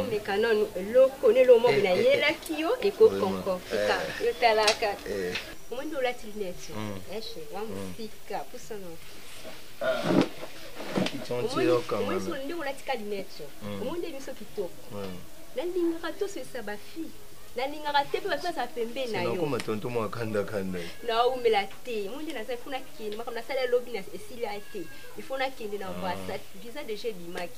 omeka nanu eloko na eloko moko nayelaki yo ekokonkortika yo tala kaka omoni olati lunete eshe wa mosika pusana omoni nde olatika lunete omoni nde miso kitoko nalingaka tosesa bafille nalingaka te mpe bato aza pembeni na yokoma tonto mwa kandakanda naumela te mo nde naza ifo nakende makambo nasala lobi esili ya te ifo nakende na ambasade visa deja ebimaki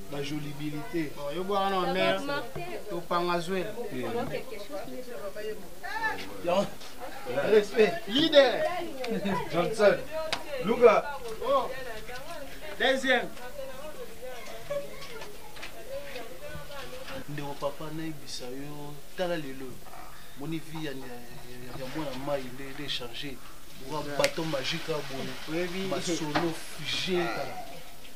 ba jolibilité yo bwa wana wa mère topanga zwela respect leader johnson luka oh. deuxième ndeko papa nayebisa yo tala lelo moni vie ya mwana mai nde nde change oka baton magique aboye masolo fige kaka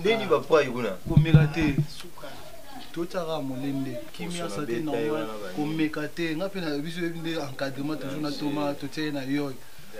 ndeni bapai kuna komela te totyaka molende kimia sa te normal komeka te nga mpe na biso yebi nde encadrement toujours na toma totie ye na yoy